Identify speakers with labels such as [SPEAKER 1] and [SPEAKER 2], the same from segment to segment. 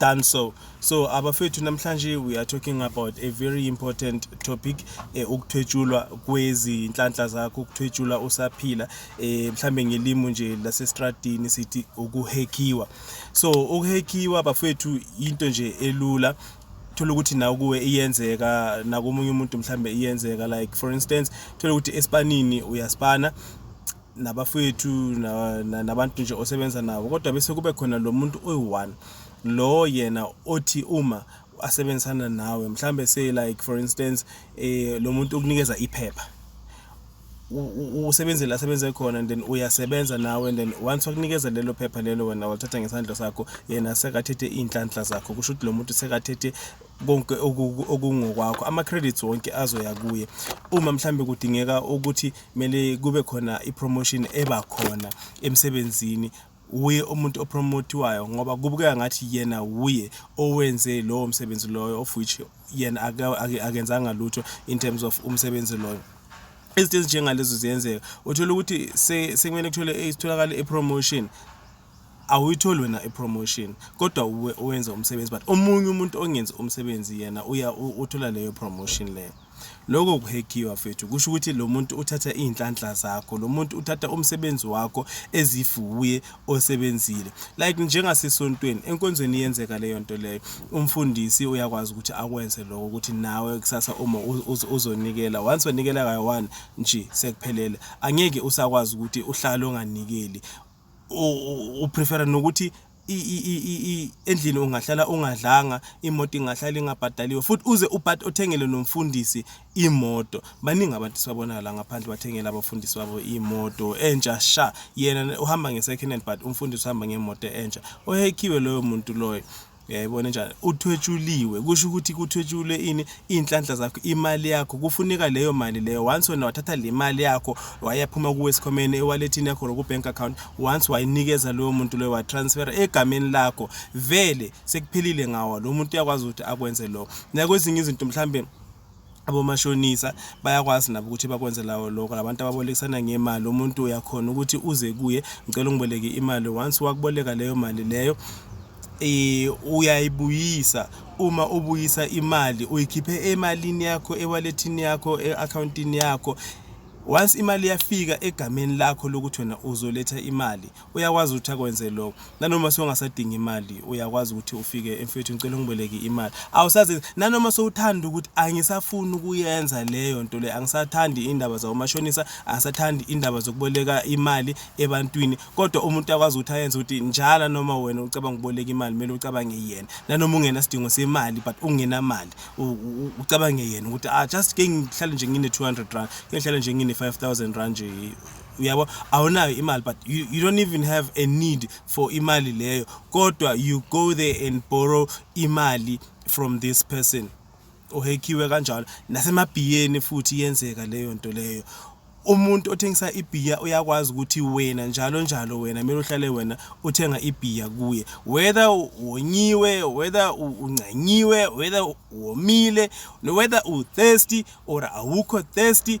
[SPEAKER 1] done so so abafethu namhlanje we are talking about a very important topic eh, ukuthwetshulwa kwezinhlanhla zakho ukuthwetshulwa usaphila eh, mhlambe ngelimo nje lasestradini sithi ukuhekiwa so ukuhekiwa bafethu into nje elula thola ukuthi nawe kuwe iyenzeka nakomunye umuntu mhlambe iyenzeka like for instance thola ukuthi esipanini uyaspana nabafowethu na- na- nabantu nje osebenza nabo kodwa bese kube khona lo muntu oyi-one lo yena othi uma asebenzisana nawe mhlawumbe say like for instance um lo muntu ukunikeza iphepha u- u- usebenzile asebenze khona and then uyasebenza nawe and then once wakunikeza lelo phepha lelo wena walithatha ngesandla sakho yena sekathethe iy'nhlanhla zakho kusho ukuthi lo muntu sekathethe konke oku- okungokwakho ama-credits wonke azoya kuye uma mhlawumbe kudingeka ukuthi kumele kube khona i-promotion eba khona emsebenzini wuye umuntu opromotiwayo ngoba kubukeka ngathi yena wuye owenze lowo msebenzi loyo of which yena akenzanga lutho in terms of umsebenzi loyo izinto ezinjengalezo ziyenzeka uthola ukuthi sekumele kuthole itholakale i-promotion awuyitholi wena ipromotion kodwa uwe owenza umsebenzi but omunye umuntu ongenzi umsebenzi yena uya u- uthola leyo promotion leyo lokho kuhekiwa fethu kusho ukuthi lo muntu uthatha iy'nhlanhla zakho lo muntu uthatha umsebenzi wakho ezifuye osebenzile like njengasesontweni enkonzweni iyenzeka leyo nto leyo umfundisi uyakwazi ukuthi akwenze lokho ukuthi nawe kusasa uma u- uz- uzonikela once wanikela kayi-one nje sekuphelele angeke usakwazi ukuthi uhlale onganikeli u prefer nokuthi endlini ungahlala ungadlanga imoto ingahlala ingabhadaliwe futhi uze ubhadi othengele nomfundisi imoto baningi abantu sibabona la ngaphandle bathengela abafundisi babo imoto entsha sha yena uhamba nge second hand but umfundisi uhamba ngemoto entsha ohekhiwe loyo muntu loyo uyayibona njani uthwetshuliwe kusho ukuthi kuthwetshulwe ini iy'nhlanhla zakho imali yakho kufuneka leyo mali leyo once wena wathatha le mali yakho wayaphuma kuwe esikhomeni ewalethini yakho loku-bank account once wayinikeza loyo muntu loyo watransfera egameni lakho vele sekuphelile ngawo lo muntu uyakwazi ukuthi akwenze lokho nakwezinye izinto mhlawumbe abomashonisa bayakwazi nabo ukuthi bakwenze lawo lokho labantu ababolekisana ngemali umuntu uyakhona ukuthi uze kuye ngicela ungiboleke imali once wakuboleka leyo mali leyo eh uyayibuyisa uma ubuyisa imali uyikhiphe emalini yakho ewalethini yakho eaccountini yakho once imali yafika egameni lakho lokuthi wena uzoletha imali uyakwazi ukuthi akwenze lokho nanoma songasadinga imali uyakwazi ukuthi ufike mfethu ngicela ungiboleke imali awusazi nanoma sowuthanda ukuthi angisafuni ukuyenza leyo nto le angisathandi indaba zawomashonisa angisathandi indaba zokuboleka imali ebantwini kodwa umuntu akwazi ukuthi ayenze ukuthi njalo noma wena ucabanga ukuboleka imali kumele ucabange yena nanoma ungena sidingo semali but ungena mali ucabange yena ukuthi ah just ke ngihlale nje ngine 200 rand ke ngihlale nje ngine 5000 rand nje uyabo awunayo imali but you, you don't even have a need for imali leyo kodwa you go there and borrow imali from this person ohekhiwe kanjalo nasemabhiyeni futhi iyenzeka leyo nto leyo umuntu othengisa ibhiya uyakwazi ukuthi wena njalo njalo wena kumele uhlale wena uthenga ibhiya kuye whether wonyiwe whether uncanyiwe whether womile whether u-thirsty or awukho thirsty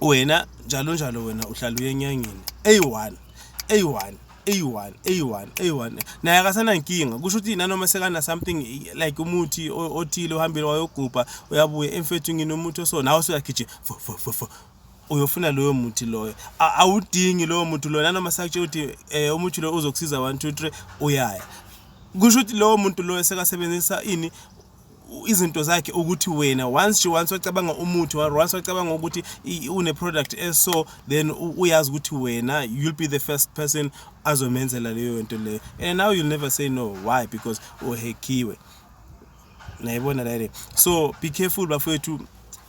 [SPEAKER 1] wena njalo njalo wena uhlala uyenyanyeni eyi-one eyi-one eyi-one eyi-one eyi-one naye akasanankinga kusho ukuthi nanoma sekana something like umuthi othile uhambile wayogubha uyabuya emfethu nginomuthi oso nawe usuyagijima uyofuna loyo muthi loyo awudingi lowo muthi loyo nanoma sakutshela ukuthi um eh, umuthi loyo uzokusiza one two three uyaya kusho ukuthi lowo muntu loyo sekasebenzisa ini izinto zakhe ukuthi wena once she once wacabanga umuthi or once wacabanga ukuthi une product eso then uyazi ukuthi wena you'll be the first person azomenzela leyo nto leyo and now you'll never say no why because uhekhiwe nayibona la so be careful bafowethu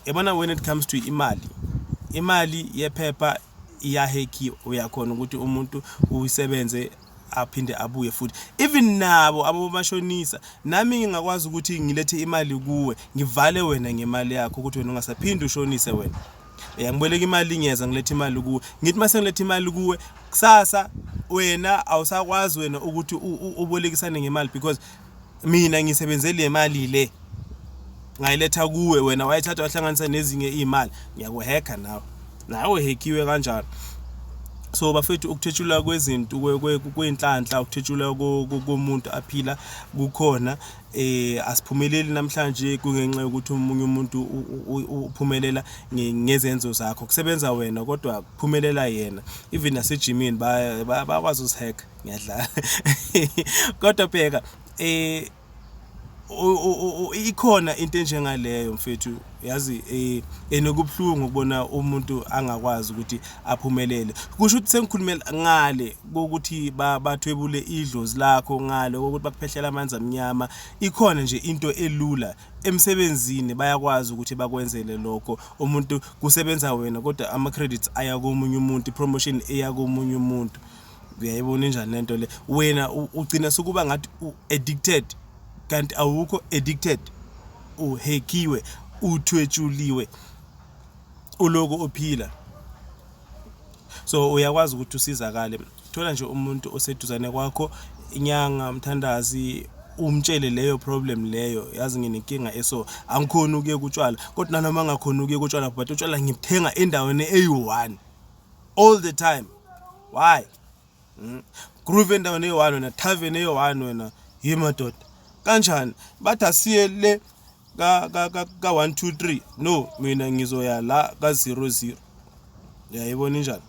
[SPEAKER 1] yabona when it comes to imali imali yephepha iyahekhiwa uyakhona ukuthi umuntu uyisebenze aphinde abuye futhi even nabo abomashonisa nami ngingakwazi ukuthi ngilethe imali kuwe ngivale wena ngemali yakho ukuthi wena ungasaphinde ushonise wena ya ngiboleka imali ngiyeza ngilethe imali kuwe ngithi mase ngilethe imali kuwe kusasa wena awusakwazi wena ukuthi ubolekisane ngemali because mina ngisebenzele le mali le ngayiletha kuwe wena wayithatha wahlanganisa nezinye iy'mali ngiyakuhekha nawe nawe hekiwe kanjalo so bafethu ukuthetshelwa kwezinto kwey'nhlanhla ukuthetshelwa komuntu aphila kukhona eh asiphumeleli namhlanje kungenxa yokuthi umunye umuntu uphumelela ngezenzo zakho kusebenza wena kodwa kuphumelela yena even nasejimini bakwazi uzihack ngiyadlala kodwa bheka eh ikhona into enjengaleyo mfethu yazi eh enokubuhlungu ukubona umuntu angakwazi ukuthi aphumelele kusho ukuthi sengikhulumela ngale ukuthi bathwebule idlozi lakho ngale ukuthi bakuphehlela amanzi amnyama ikhona nje into elula emsebenzini bayakwazi ukuthi bakwenzele lokho umuntu kusebenza wena kodwa ama credits aya komunye umuntu promotion eya komunye umuntu uyayibona injani lento le wena ugcina sukuba ngathi u addicted kanti awukho addicted uhekiwe uthwetshuliwe uloku ophila so uyakwazi ukuthi usizakale thola nje umuntu oseduzane kwakho inyanga mthandazi umtshele leyo problem leyo yazi nginenkinga eso angikhona ukuye kutshwala kodwa nanoma ngakhona ukuye kutshwala but utshwala ngibuthenga endaweni eyi-one all the time why hmm? groove endaweni eyi-one wena tavern eyi-one wena yi madoda kanjani bathi asiye le ka-one two three no mina ngizoya la ka-zero zero yayibona injani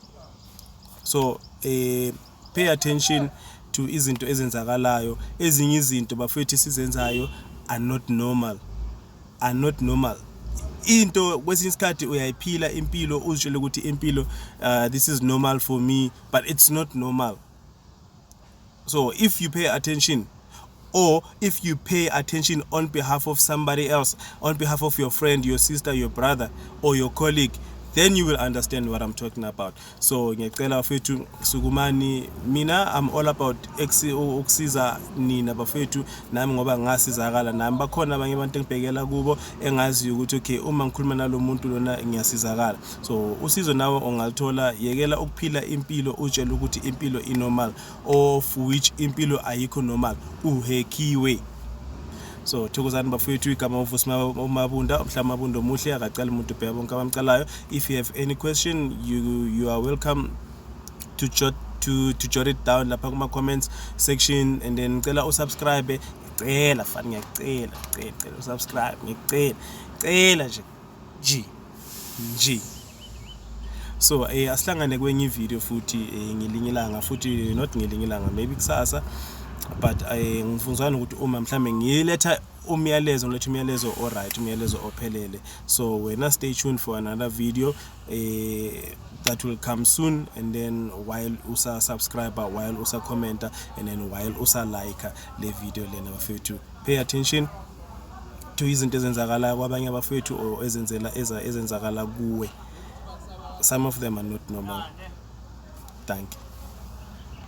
[SPEAKER 1] so um pay attention to izinto ezenzakalayo ezinye izinto bafethu sizenzayo are not normal are not normal into kwesinye isikhathi uyayiphila impilo uzitshele ukuthi impilo uh, this is normal for me but it's not normal so if you pay attention or if you pay attention on behalf of somebody else on behalf of your friend your sister your brother or your colleague then you will understand what I'm talking about so ngiyacela bafethu sukumani mina I'm all about ukusiza nina bafethu nami ngoba ngasizakala nami bakhona abanye abantu engibhekela kubo engaziyo ukuthi okay uma ngikhuluma nalomuntu lona ngiyasizakala so usizo nawe ongalithola yekela ukuphila impilo utshela ukuthi impilo inormal of which impilo ayikho normal uhekiwe so thokozani bafowethu igama uvusi mabunda mhla mabunda omuhle akacala umuntu ubheka bonke abamcalayo if you have any question you, you are welcome to jot to, to jot it down lapha kuma-comments section and then ngicela usubscribe cela fani ngiyacela cela cela usubscribe ngicela cela nje G G so eh asihlangane kwenye video futhi eh, ngelinye ilanga futhi not ngelinye ilanga maybe kusasa but eh ngifunzana ukuthi uma mhlambe ngiletha umyalezo ngiletha umyalezo oright umyalezo ophelele so wena stay tuned for another video eh that will come soon and then while usa subscriber while usa commenter and then while usa liker le video lena bafethu pay attention to izinto ezenzakalayo kwabanye abafowethu or ezenzela eza ezenzakala kuwe some of them are not normal thank you